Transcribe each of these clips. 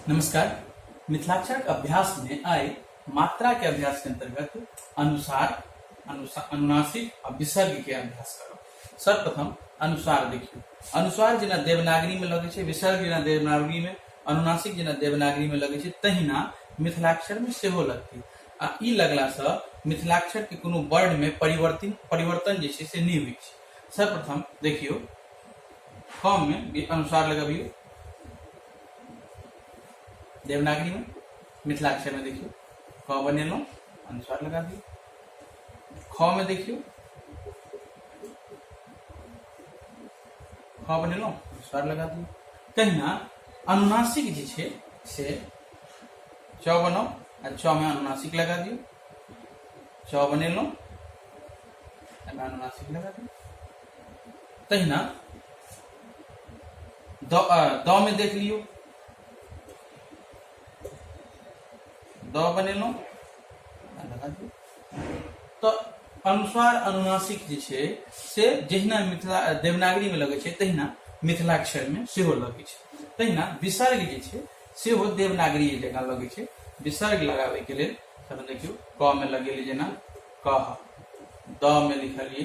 नमस्कार मिथिलाक्षर के अभ्यास में आय मात्रा के अभ्यास के अंतर्गत अनुसार अनुसा- अनुनासिक आ विसर्ग के अभ्यास करब सर्वप्रथम अनुसार देखियौ अनुसार जेना देवनागरी में लगै छै विसर्ग जेना देवनागरी में अनुनासिक जेना देवनागरी में लगै छै तहिना मिथिलाक्षर में सेहो लगतै आ ई लगला से मिथिलाक्षर के कोनो वर्ण में परिवर्तन परिवर्तन जे छै से नहि होइ छै सर्वप्रथम देखियौ फॉर्म में भी अनुसार लगबियो देवनागरी में मिथिलाक्षर में देखियो क बनेलहुँ अनुसार लगा दियो ख में देखियो ख बनेलहुँ अनुसार लगा दियो तहिना अनुनासिक जे छै से च बनाउ आ च में अनुनासिक लगा दियो च बनेलहुँ अनुनासिक लगा दियो तहिना द में देख लियो द बनेलहुँ तो अनुसार अनुनासिक जे छै से जहिना मिथिला देवनागरी में लगे तहिना मिथिलाक्षर में सेहो लगे तहिना विसर्ग जे छै सेहो देवनागरी जकाँ लगे छै विसर्ग लगाबैके लेल तखन देखियौ क में लगेली जेना कह द में लिखलिए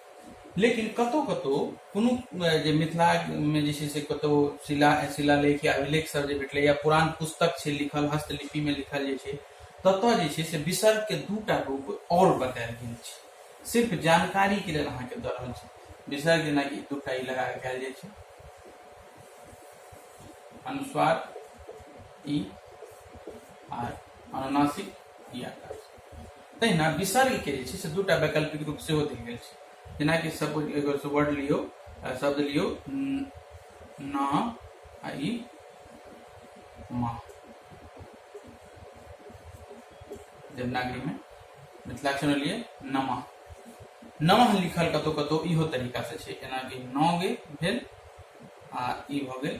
लेकिन कतहु कतहु कोनो जे मिथिलामे जे छै से कतहु शिला शिलालेख या अभिलेख सब जे भेटलै या पुरान पुस्तक छै लिखल हस्तलिपिमे लिखल जे छै ततऽ जे छै से विसर्गके दूटा रूप आओर बतायल गेल छै सिर्फ जानकारीके लेल अहाँके दऽ रहल छै विसर्ग जेनाकि दूटा ई लगा कयल जाइ छै अनुस्वार ई आर अनुनासिक ई आकार तहिना विसर्ग के जे छै से दूटा वैकल्पिक रूप सेहो देल गेल छै जेनाकि सब एगो से वर्ड लियौ आ शब्द लियौ न न आ ई म देवनागरी में मिथिलाक्षर में लिए नमः नमः लिखल कतौ कतौ इहो तरीका से छै जेनाकि नौ गे भेल आ ई भऽ गेल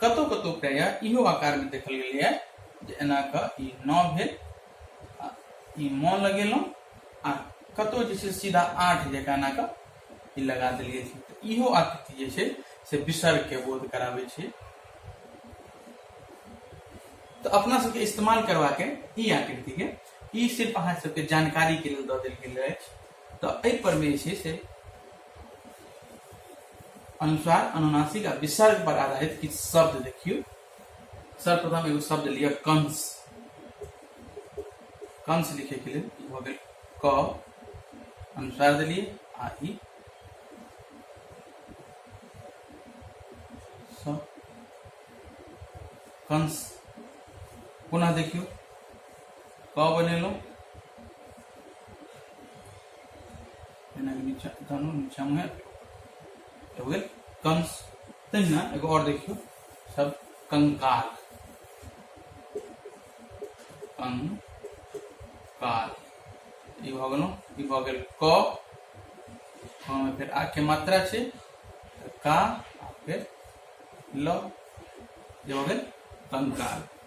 कतौ कतौ प्राय इहो आकार में देखल गेलै है जे एना क ई नौ भेल आ ई म लगेलहुँ आ कतौ जे छै सीधा आठ जकाँ एना क ई लगा देलियै तऽ इहो आकृति जे छै से विसर्ग के बोध कराबै छै तऽ अपना सबके इस्तेमाल करवा के ई आकृति के ई सिर्फ अहाँ सबके जानकारी के लेल दऽ देल गेल अछि तऽ एहि पर में जे छै से अनुसार अनुनासिक आ विसर्ग पर आधारित किछु शब्द देखियौ सर्वप्रथम एगो शब्द लिअ कंस कंस लिखैके लेल ई भऽ गेल क अनुसार देलियै आ ई स कंस पुनः देखियौ क बनेलहुँ कंस तहिना एगो और देखियो सब कंकाल कंकाल ई भऽ गेलहुँ ई भऽ गेल क फेर आ के मात्रा छै का फेर ल जे भऽ गेल कंकाल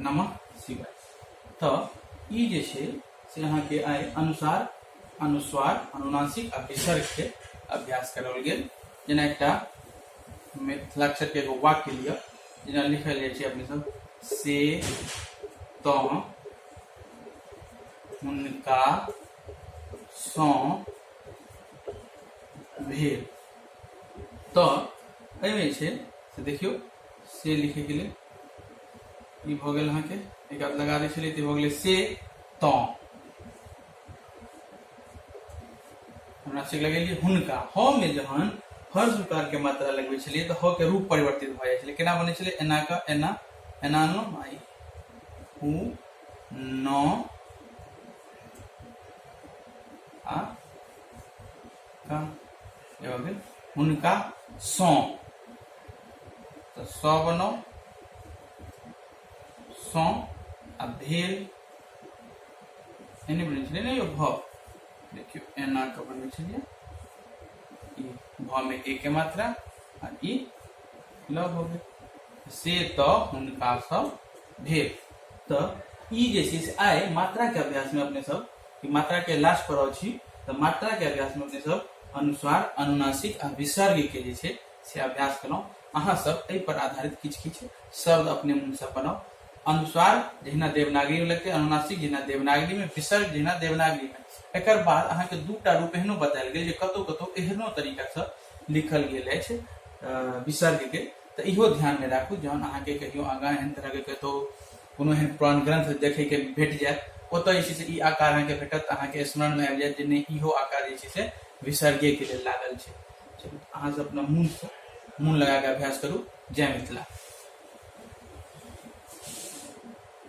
नमः शिवाय तो ई जे छै से अहाँके आइ अनुसार अनुस्वार अनुनासिक आ विसर्गके अभ्यास कराओल गेल जेना एकटा मिथिलाक्षरके एगो वाक्य लिअ जेना लिखल जाइ छै अपने सब से त हुनका सं भेल तऽ एहिमे छै से देखियौ से लिखे के लिए ई भऽ गेल अहाँके एक आध लगा दै छलियै तऽ भऽ गेलै से त हमरा से लगेलियै हुनका ह मे जहन हर जुकार के मात्रा लगबै छलियै तऽ ह के रूप परिवर्तित भऽ जाइ छलै केना बनै छलै एना का एना एना नो आई हु न आ एवं हुनका सौ तो सौ बनो सौ आ भेल एने बने छे ना यो भ देखियो एना के बने छे ई भ में एक मात्रा आ ई ल हो गए से तो हुनका सब भेल तो ई जे चीज आए मात्रा के अभ्यास में अपने सब कि मात्रा के लास्ट पर अछि तऽ मात्रा के अभ्यास में अपने सब अनुस्वार अनुनासिक आ विसर्ग के जे छै से अभ्यास केलहुँ अहाँ सब एहि पर आधारित किछु किछु शब्द अपने मुँह से बनाउ अनुस्वार जहिना देवनागरी में लगते अनुनासिक जहिना देवनागरी में विसर्ग जहिना देवनागरी में एकर बाद अहाँ के दू टा रूप एहनो बतायल गेल जे कतौ कतौ एहनो तरीका से लिखल गेल अछि अ, विसर्ग के तऽ इहो ध्यान में राखू जहन अहाँ के कहियो आगाँ एहन तरह के कतौ कोनो एहन पुरान ग्रंथ देखैके भेट जायत ओतऽ जे छै से ई आकार अहाँके भेटत अहाँके स्मरणमे आबि जायत जे नहि इहो आकार जे छै से विसर्गेके लेल लागल छै चलू अहाँ सब अपना मून मून लगाके अभ्यास करू जय मिथिला